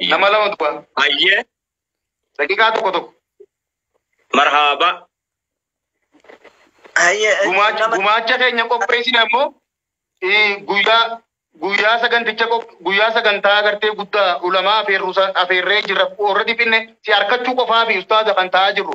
Nama lama duba. Ayyee. Daqiqaa tokko tokko. Marhaaba. Gumaacha keenya qopheessine ammoo guyyaa guyyaa saganticha guyyaa sagantaa agartee guddaa ulamaa afeerree jirra warra dhiphinne si harkachuu qofaa fi ustaaza kan ta'aa jirru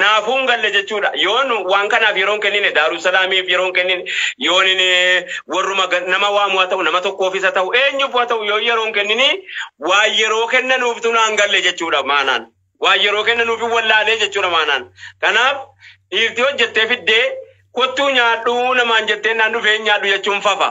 Naafuu hin galle jechuudha. Yoon waan kanaaf yeroon kennine Daarussalaamiif yeroon kennine yoon inni warruma ga- nama waamu haa ta'u nama tokkoofis haa ta'u eenyuuf haa ta'u yoo yeroon kennini waa yeroo kennanuuftu naan galle jechuudha maanaan. Waa yeroo kennanuuf hin wallaalee jechuudha maanaan. Kanaaf dhiirti hojjettee fiddee kottuu nyaadhu namaan jettee naan dhufee hin nyaadhu jechuun fafa.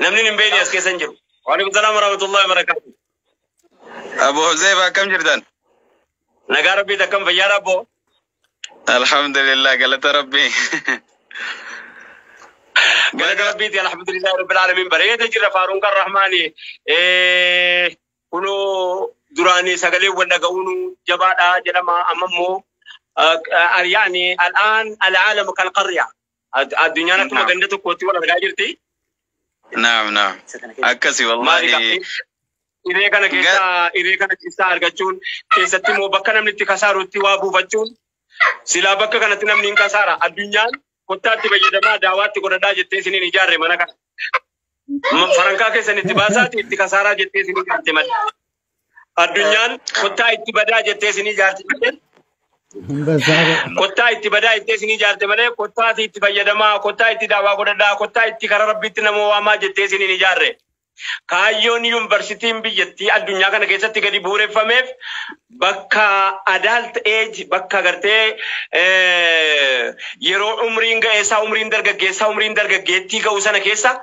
Namni hin beekne as keessa hin jiru. Waalaikum salaam warahmatullahi wabarakatuh. Abu Huzaifa akkam jirtan? Nagaa rabbiit akkam fayyaa rabboo. Alhamdulillah galata rabbii. Galata rabbiiti alhamdulillah rabbil alamin bareeda jira faaruun kan rahmaani. Eh, Kunoo duraani sagalee wal dhaga'uun jabaadha jedhama amma immoo ah, ah, yaani al'aan al'aalam kan qarya. Ad- Addunyaan akkuma Naam. ganda tokkootti wal argaa jirti. Naam naam. Akkasi Maali wallahi. gaa- Hiree kana keessaa hiree kana keessaa argachuun keessatti immoo bakka namni itti kasaarutti waa buufachuun silaa bakka kanatti namni hin kasaara addunyaan kottaatti fayyadamaa daawaatti godhadhaa jettee isiniin ijaarre mana kana. Ma- Farankaa keessan itti baasaati itti kasaaraa jettee isiniin ijaarte malee. Addunyaan kottaa itti badaa jettee isinii jaarti malee. Kottaa itti badaa jettee isinii jaarte malee kottaa fi itti fayyadamaa, kottaa itti daawaa godhadhaa, kottaa itti karaa rabbiitti nama waamaa jettee isiniin hin ijaarre. Kaayyoon yuunivarsiitiin biyyattii addunyaa kana keessatti gadi bu'uureffameef bakka adult age bakka gartee yeroo umriin ga'eessaa, umriin dargaggeessaa, umriin dargaggeettii ga'u sana keessa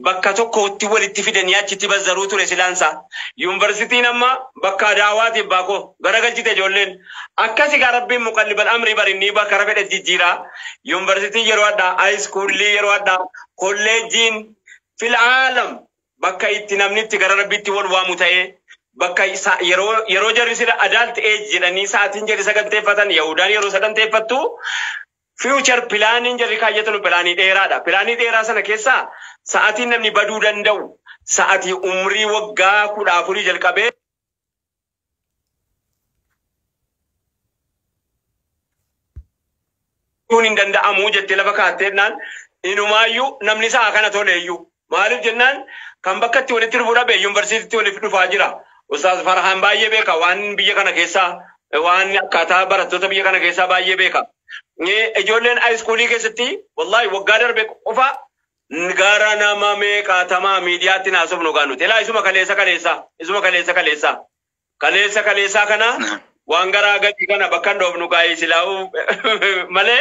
bakka tokkotti walitti fidanii achitti bazzaruu ture silaan isaa. Yunversitiin amma bakka adaawaati abbaa koo. Garagalchite ijoolleen. Akkasi gaa rabbiin muqallibal amrii bar innii bakka kara fedhe jijjiira. Yunversitiin yeroo adhaa, ayiskuullii yeroo adhaa, kolleejjiin fil aalam bakka itti namni itti gara rabbiitti wal waamu ta'ee bakka sa- yeroo yeroo jarri sila adult age jedhanii sa'atiin jedhi saganteeffatan Yahudaan yeroo saganteeffattu Future pilaaniin jarri kaayyatanu pilaanii dheeraadha. Pilaanii dheeraa sana keessaa sa'atiin namni baduu danda'u sa'atii umrii waggaa kudha afurii jalqabee kun hin danda'amu jettee lafa kaattee jennaan inumaayyuu namni sa'a kana toleeyyuu Maaliif jennaan kan bakkatti walitti dhufuu dhabe yuunivarsiitiitti waliif dhufaa jira. Ustaaz Farhaan baay'ee beeka waan biyya kana keessaa waan akkaataa barattoota biyya kana keessaa baay'ee beeka. Ijoolleen haayiskuulii keessatti wallaahi waggaa darbe qofa gara nama meeqaatamaa miidiyaatti naasofnu gaa nuti. Ilaa isuma kaleessa kaleessaa isuma kaleessa kaleessaa kaleessa kaleessaa kana waan garaa gadii kana bakka hin dhoofnu gaa silaa'uu malee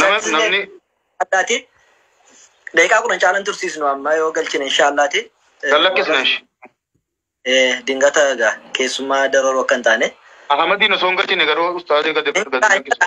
Nama- namni Addaati. Daqiiqaa kudhan caalan tursiisnu amma yoo galchine inshaallaati. kan lakkisna ishi. Eh, Dingata egaa keessummaa dararuu akka hin taane. Ahmadiin osoo hin galchine garuu ustaazii gadi gadi lakkisna.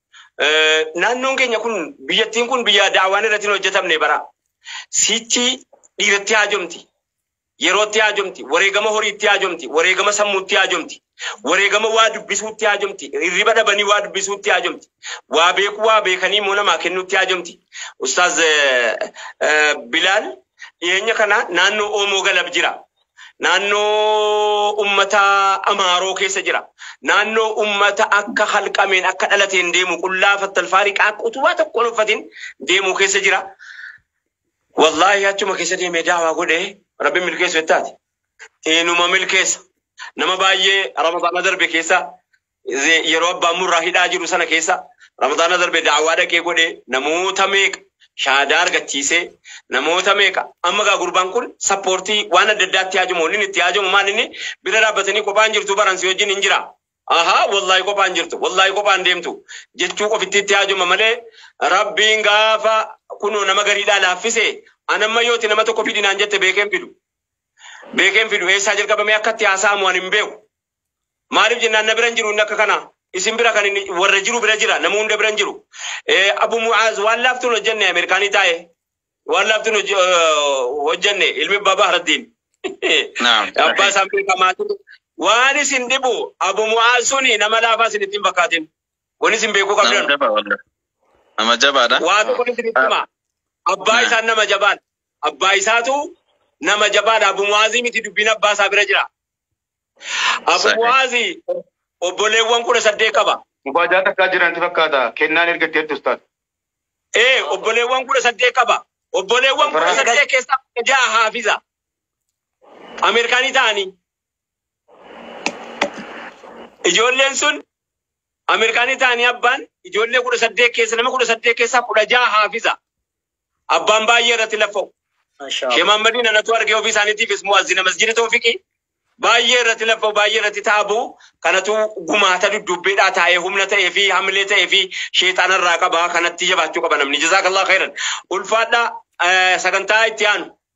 Naannoon keenya kun biyyattiin kun biyya daawwaan irratti hin hojjetamne bara. Sichi dhiiratti haajomti. Yerootti haajomti. Wareegama horiitti haajomti. Wareegama sammuutti haajomti. Wareegama waa dubbisuutti haajomti. Hirriba dhabanii waa dubbisuutti haajomti. Waa beekuu waa beekanii immoo namaa kennuutti haajomti. Ustaaz Bilaal dhiyeenya kana naannoo Oomoo Galab jira. Naannoo ummata Amaaroo keessa jira. Naannoo ummata akka halqameen akka dhalateen deemu qullaa fattalfaarii qaaq utubaa tokko hin uffatin deemu keessa jira. Wallaahi achuma keessa deemee daawaa godhee rabbi milkeessu jettaati. Inuma milkeessa. Nama baay'ee Ramadaana darbe keessa Ze- yeroo abbaan murraa hidhaa jiru sana keessa ramadaana darbe daawwaa dhaqee godhe namoota meeqa shaadaa argachiise namoota meeqa amma gaa gurbaan kun sappoortii waan adda addaatti haajamu inni itti haajamu maal inni bira dhaabbatanii kophaan jirtu baransi wajjin hin jira ahaa wallaahi kophaan jirtu wallaahi kophaan deemtu jechuu qofitti itti haajama malee rabbiin gaafa kunoo nama gariidhaa laaffise anamma yooti nama tokko fidinaan jette beekeen fidu beekeen fidu eessaa jalqabamee akkatti haasa'amu ani hin beeku Maaliif jennaan na bira hin jiru inni akka kanaa. Isin bira kan inni warra jiru bira jira nama hunda bira hin jiru. Eh, Abu Mu'aaz waan laaftuun hojjenne Ameerikaanii taa'e. Waan laaftuun hoj- eh, hojjenne ilmi abbaa Bahraddiin. Naam. Abbaa isaan beekamaa ture. Waan isin dhibu Abu Mu'aaz suni nama laafaa isin ittiin fakkaatin. Kun isin beekuu Nama qabdan. jabaa wallah. Nama jabaadha. Waa tokko isin itti hima. Abbaa Naam. isaan nama jabaadha. Abbaa isaatu nama jabaadha. Abu Mu'aazii miti dubbiin abbaa isaa bira jira. Abuwaasi obboleewwan kudha saddeet qaba. Mubaajaa takkaa jiran ti fakkaata. Kennaan erga itti ertu ustaad. Ee obboleewwan kudha saddeet qaba. Obboleewwan kudha saddeet keessaa kudha ja'a haafiza. Ameerikaanii ta'anii. Ijoolleen sun Ameerikaanii ta'anii abbaan ijoollee kudha saddeet keessa nama kudha saddeet keessaa kudha ja'a haafiza. Abbaan baay'ee irratti laffa'u. Mashallah. Shee Mahammadiin anatu argee ofii isaaniitiifis mu'azzina masjidi toofiqii baay'ee irratti laffa'u baay'ee irratti taabu kanatu gumaata dudduubbeedhaa taa'ee humna ta'ee fi hamilee ta'ee fi sheexaana irraa qaba kanatti jabaachuu qaba namni jazaakallah khairan ulfaadhaa eh, sagantaa itti aanu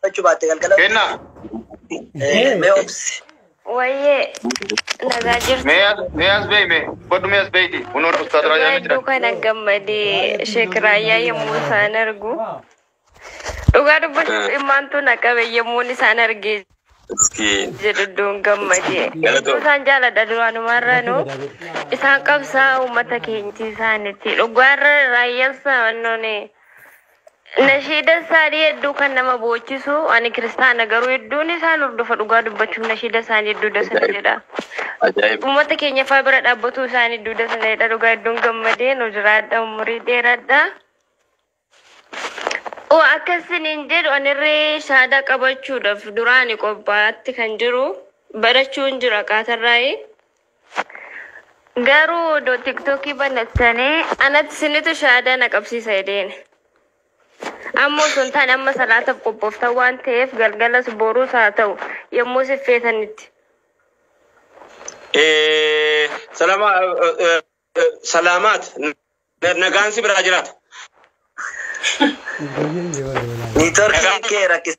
Fudhachuu baatte galgala. Kenna. Eh, Mee obsi. Wayyee nagaa jirtu. Mee as mee as beeyi mee. Godhu mee as beeyiti. Kunoon ustaad Dhugaa Raayyaan ni hedduu jira. kana gammadee Sheek Raayyaa yommuu isaan argu. Dhugaa dubbachuuf immaantu na qabe yommuun isaan argee Miskiin. jedhu iddoon gammadee. Hedduu isaan jaaladha duraanumaarraanu. Isaan qabsaa uummata keenyatti isaanitti. Dhugaarra raayyaan saannoon Nashiida isaanii hedduu kan nama boochisu ani kiristaana garuu hedduun isaan hordofa dhugaa dubbachuuf nashiida isaanii hedduu dasa na jedha. Ajaa'ib. Uummata keenya faa bira dhaabbatuu isaanii hedduu dasa na jedha dhugaa hedduun gammadee nu jiraadha umurii dheeradha. Oo akkasiniin jedhu anirree shaadaa qabachuudhaaf duraani qophaa'atti kan jiru barachuun jira qaatarraa'ee. Garuu odoo tiktokii banattanii anatti sinitu shahaadaa na qabsiisa jedheen. Amma osoo hin taane amma salaataaf qophooftan waan ta'eef galgalas boruus haa ta'u yommuu si feetanitti. Eh, salama, eh, eh, eh, salaamaat Na- nagaan si biraa jiraata. Niitoorkiin kee rakkisa.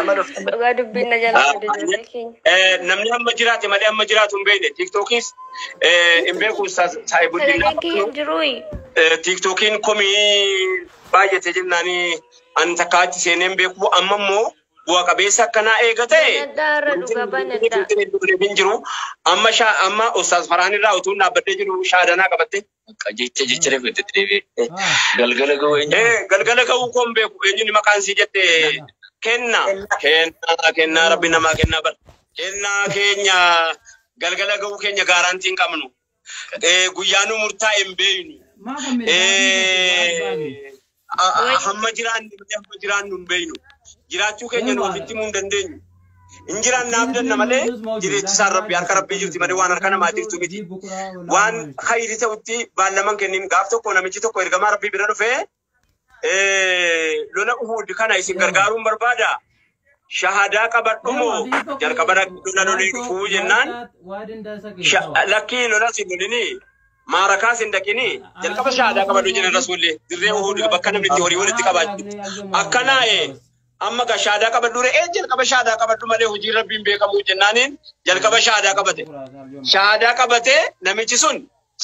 Amma dhufte. Dhugaa dubbiin na jala badde ijoollee keenya. Eh, Namni amma jiraate malee amma jiraatu hin beekne. Tiiktookis eh, hin beeku saayii guddinaa. Sagaleen kiyya hin jiruuyi. Eh, Tiiktookiin komii baay'ate jennaanii an takka achi seenee hin beeku. Amma immoo bu'a qabeessa akkanaa eega ta'e. Banadhaa irra dhugaa banadhaa. Hin jiru. Amma shaa amma Ustaaz Farhaan irraa utuu hin dhaabbadhee jiru shaadanaa qabatte. Akka jecha jecha reefu itti deebi'e. Galgala ga'uu eenyu? Ee, galgala ga'uu koon beeku eenyuun maqaan sii jette kenna kennaa kennaa rabbi namaa kennaa bar kennaa keenya galgala ga'uu keenya gaaraantii hin qabnu ee guyyaa nu murtaa'e hin beeynu ee A- a- Wayii. Hamma jiraanne malee hamma jiraannu hin beeknu. Jiraachuu keenya nu ofitti himuu hin dandeenyu. Hin jiraanna abdanna malee jireechisaan rabbi harka rabbii jirti malee waan harka namaa jirtu miti. Waan khayri ta'utti baallaman kennin gaaf tokko namichi tokko ergamaa rabbii bira dhufee eh, lola Uhud kana isin gargaaruun barbaada shahadaa qabadhu moo jalqaba dhaqxu na lolii dhufuu jennaan sha- lakkii lolas hin lolinii maarakaas hin dhaqinii jalqaba shahadaa qabadhu jenna rasuulli dirree uhud bakka namni itti horii walitti qabaachu akkanaa ee amma ga shahadaa qabadhu re'ee jalqaba shahadaa qabadhu malee hojii rabbiin beekamuu jennaaniin jalqaba shahadaa qabate shahadaa qabatee namichi sun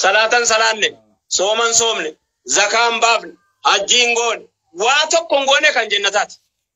salaatan salaanne sooman soomne zakaan baafne hajjiin goone waa tokko hin goone kan jennataati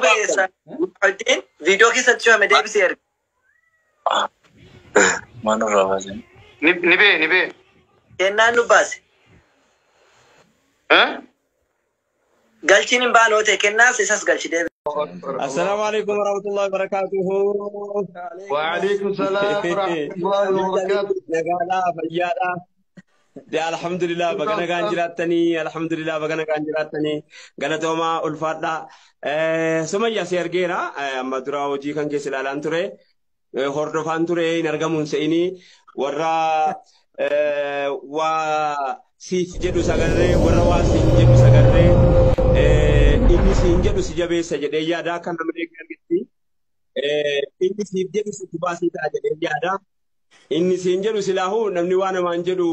Bayeessa hojjeen viidiyoo keessatti cufame deebisee erga. Maal irraa baasan? Ni ni bee ni bee. Kennaan nu baase. Eh? Galchiin hin baanoo ta'e kennaas isas galchi deebi. Assalaamu alaikum warahmatullahi wabarakatuhu. Waalaikum salaam warahmatullahi wabarakatuh. Nagaadhaa fayyaadhaa. Dee alhamdulillah baga nagaan jiraattanii alhamdulillah baga nagaan jiraattanii galatoomaa ulfaadhaa. Eh, Sumayya si argeera Eh, amma dura hojii kan keessa ilaalaan ture Eh, hordofaan ture hin argamuun se'inii warra eh, waa siif jedhu sagarree warra waa siin jedhu sagarree eh, inni siin jedhu si jabeessa jedhee yaada akka namni argetti eh, inni siif jedhu si baasii ta'a jedhee yaada. Inni siin jedhu silaahuu namni waa namaan jedhu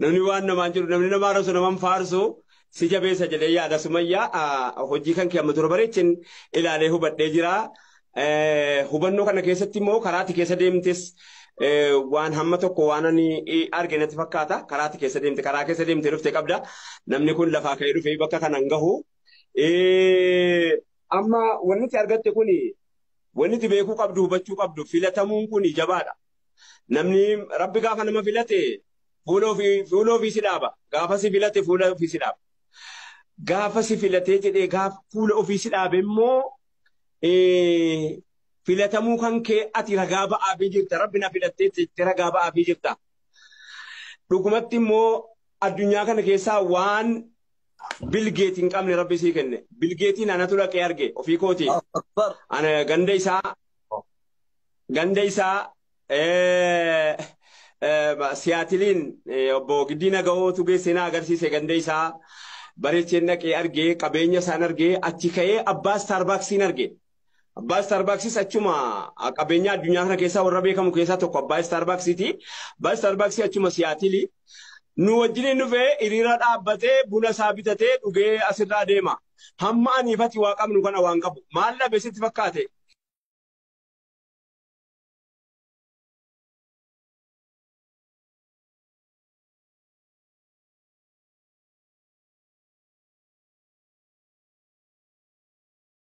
namni waan namaan jedhu namni nama arrabsu naman faarsu si jabeessa jedhee yaada sumayyaa ah, hojii kan kee amma dura bareechin ilaalee hubadhee jira. Eh, Hubannoo kana keessatti immoo karaatti keessa deemtes eh, waan hamma tokko waan ani eh, arge natti fakkaata karaatti keessa deemte karaa keessa deemte dhufte qabda namni kun lafaa ka'ee dhufee bakka kana hin gahu. Eh, Amma wanti argatte kuni Wanni ati beekuu qabdu, hubachuu qabdu, filatamuun kuni jabaadha. Namni, Rabbi gaafa nama filate fuula ofii, fuula ofii si dhaaba. Gaafa si filate fuula ofii si dhaaba. Gaafa si filatee jedhee gaafa fuula ofii si dhaabe immoo eh, filatamuu kan kee ati ragaa ba'aafii jirta. Rabbi na filattee jettee ragaa ba'aafii jirta. Dhugumatti immoo addunyaa kana keessaa waan bilgeeti hin qabne rabbi sii kenne bilgeetiin anatu dhaqee arge ofii kooti akbar ana ganda isaa ganda isaa eh, eh, siyaatiliin eh, obbo Giddiina Gahootu geessee na agarsiise ganda isaa bareecheen dhaqee arge qabeenya isaan arge achi ka'ee abbaa istaarbaaksiin arge Abbaa Istaarbaaksis achuma qabeenyaa addunyaa kana keessaa warra beekamu keessaa tokko abbaa Istaarbaaksiiti. Abbaa Istaarbaaksii achuma Siyaatili. Nu wajjiniin dhufee hiriira dhaabbatee buna isaa bitatee dhugee asirraa deema. Hamma aniif ati waa qabnu kana waan qabu. Maal dhabe sitti fakkaate?